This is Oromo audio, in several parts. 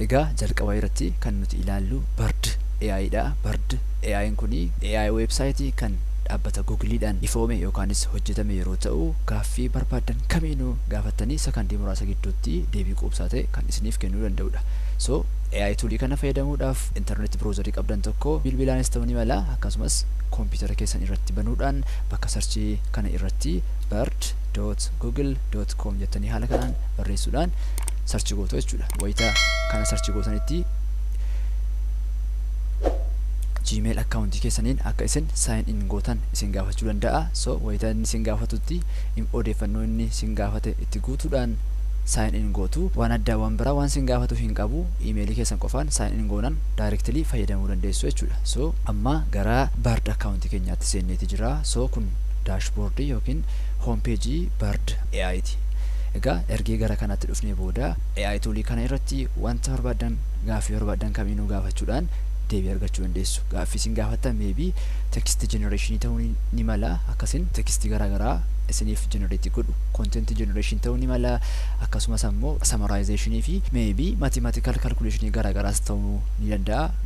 Egaa jalqaba irratti kan nuti ilaallu Bard AI dha. Bard AI'n kun AI website kan dhaabbata Google dhaan ifoome yookaanis hojjetame yeroo ta'u, gaaffii barbaaddan kamiinuu gaafattanii sakandii muraasa gidduutti deebii quubsaa ta'e kan isiniif kennuu danda'udha. So AI tool kana fayyadamuudhaaf internet browser qabdan tokko bilbilaanis ta'uu ni mala akkasumas computer keessan irratti banuudhaan bakka search kana irratti bird dot google dot com jettanii haala kanaan barreessuudhaan sarchi gootu jechuudha wayita kana sarchi gootanitti gmail akkaawuntii keessaniin akka isin sign in gootan isin gaafachuu danda'a so wayita inni isin gaafatutti im- odeeffannoo inni isin gaafate itti guutuudhaan sign in gootu waan addaa waan biraa waan isin gaafatu hin qabu imeelii keessan qofaan sign in goonan directly fayyadamuu dandeessu jechuudha so amma gara bird akkaawuntii keenyaatti itti seenneeti jira so kun daashboordii yookiin home page bird AI ti egaa ergii gara kanatti dhufnee booda AI toolii kana irratti wanta barbaaddan gaaffii barbaaddan kamiinuu gaafachuudhaan deebii argachuu dandeessu gaaffii isin gaafattan meebii text generation ta'uu ni, ni mala akkasin text garaagaraa isiniif generate godhu content generation ta'uu ni mala akkasumas ammoo summarization fi meebii mathematical calculation garaagaraas ta'uu ni danda'a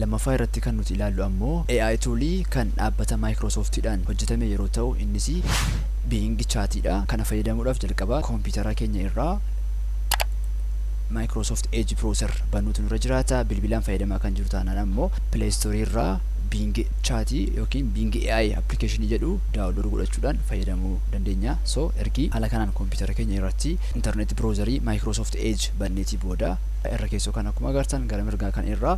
Lammaffaa irratti kan nuti ilaallu ammoo AI tuulii kan dhaabbata Microsoft dhaan hojjetame yeroo ta'u innis Bing Chat dha. Kana fayyadamuudhaaf jalqaba kompiitara keenya irraa Microsoft Edge Browser banuutu nurra jiraata. Bilbilaan fayyadamaa kan jiru taanaan ammoo Play Store irraa Bing Chat yookiin Bing AI application jedhu download godhachuudhaan fayyadamuu dandeenya. So ergi haala kanaan kompiitara keenya irratti internet browser Microsoft Edge banneetii booda irra keessoo kan akkuma agartan gara mirgaa kan irraa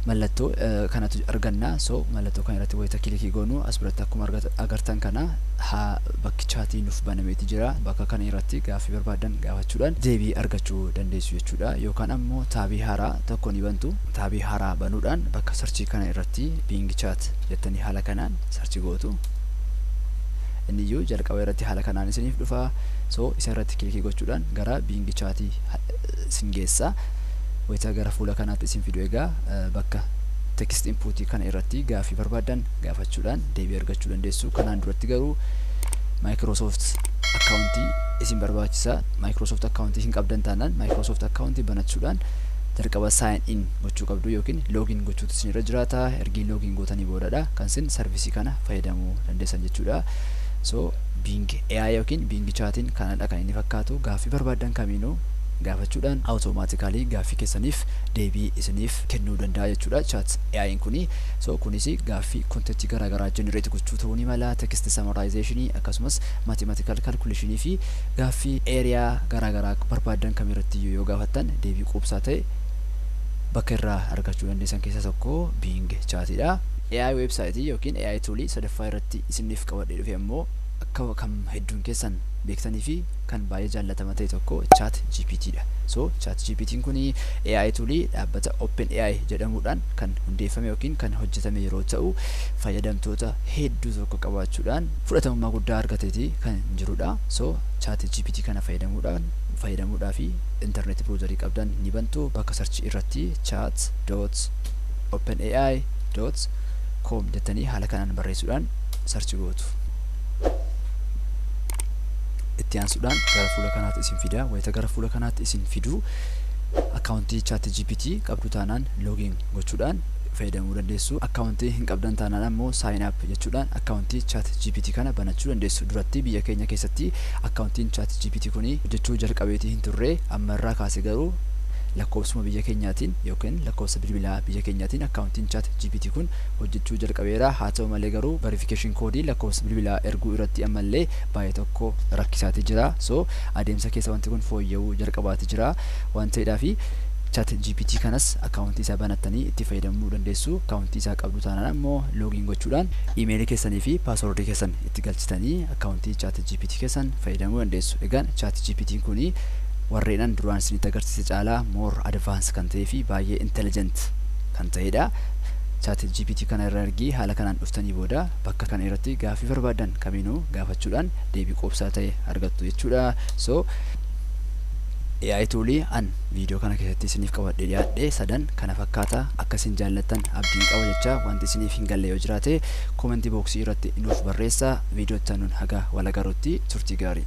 mallattoo kanatu arganna so mallattoo kan irratti wayita kilikii goonu as biratti akkuma agartan kana haa bakki chaatii nuuf banameeti jira bakka kana irratti gaaffii barbaadan gaafachuudhaan deebii argachuu dandeessu jechuudha yookaan ammoo taabii haaraa tokko ni bantu taabii haaraa banuudhaan bakka sarchii kana irratti biingi chaat jettanii haala kanaan sarchi gootu inni iyyuu jalqaba irratti haala kanaan isiniif dhufa so isa irratti kilikii gochuudhaan gara biingi chaatii sin geessa. Wayita gara fuula kanaatti isin fidu egaa bakka text input kana irratti gaaffii barbaaddan gaafachuudhaan deebii argachuu dandeessu. Kanaan duratti garuu Microsoft account isin barbaachisa. Microsoft account hin qabdan taanaan Microsoft account banachuudhaan jalqaba sign in gochuu qabdu yookiin login gochuutu isin irra jiraata. Ergii login gootanii boodadha kan isin sarvisii kana fayyadamuu dandeessan jechuudha. So Bing AI ykn Bing Chat'n kanadha kan inni fakkaatu. Gaaffii barbaaddan kamiinuu gaafachuudhaan automatically gaaffii keessaniif deebii isiniif kennuu danda'a jechuudha chat AI'n kuni. So kunis gaaffii content garaa garaa generate gochuu ta'uu ni mala, text summarization, akkasumas mathematical calculation fi gaaffii area garaa garaa barbaaddan kamirrattiyyuu yoo gaafattan deebii quubsaa ta'e bakka irraa argachuu dandeessan keessaa tokko Bing Chat'dha. AI website ykn AI tool sadaffaa irratti. isiniif qabadhee dhufe ammoo akka kan hedduun keessan beektanii fi kan baay'ee jaallatama ta'e tokko chat GPT dha. So chat GPT'n kun AI toolii dhaabbata Open AI jedhamuudhaan kan hundeeffame yookiin kan hojjetame yeroo ta'u fayyadamtoota hedduu tokko qabaachuudhaan fudhatamummaa guddaa argateeti kan jirudha. So chat GPT kana fayyadamuudhaan fayyadamuudhaa fi intarneetii browserii qabdan ni bantu bakka sarchii irratti chat dot open AI dot com jettanii haala kanaan barreessuudhaan sarchi gootu. Itti aansuudhaan gara fuula kanaatti isin fida. Wayita gara fuula kanaatti isin fidu akkaawuntii chaatti GPT qabdu taanaan loogiin gochuudhaan fayyadamuu dandeessu. Akkaawuntii hin qabdan taanaan ammoo saayin app jechuudhaan akkaawuntii chaatti GPT kana banachuu dandeessu. Duratti biyya keenya keessatti akkaawuntiin chaatti GPT kun hojjechuu jalqabeetii hin turre amma irraa kaase garuu lakkoofsuma biyya keenyaatiin yookiin lakkoofsa bilbilaa biyya keenyaatiin akkaawuntii Ittiin Chat gpt kun hojjechuu jalqabeera. Haa ta'u malee garuu verification koodii lakkoofsa bilbilaa erguu irratti ammallee baay'ee tokko rakkisaati jira. So adeemsa keessa wanti kun fooyya'uu jalqabaati jira waan ta'eedhaafi Chat gpt kanas akkaawuntii isaa banattanii itti fayyadamuu dandeessu. Akkaawuntii isaa qabdu taanaan ammoo login gochuudhaan email keessanii fi password keessan itti galchitanii akkaawuntii Chat gpt keessan fayyadamuu dandeessu. Egaan Chat gpt kun warreen an duraan isinitti agarsiise caalaa more advance kan ta'ee fi baay'ee intelligent kan ta'edha. Chat GPT kana irra ergii haala kanaan dhuftanii booda bakka kana irratti gaaffii barbaaddan kamiinuu gaafachuudhaan deebii quubsaa ta'e argattu jechuudha. So AI tuulii an viidiyoo kana keessatti isiniif qabadhee dhiyaadhe sadan kana fakkaata akka isin jaallattan abdiin qaba jecha wanti isiniif hin galle yoo jiraate koomentii booksii irratti nuuf barreessaa viidiyoo itti aanuun haga wal agarrutti turtii gaarii.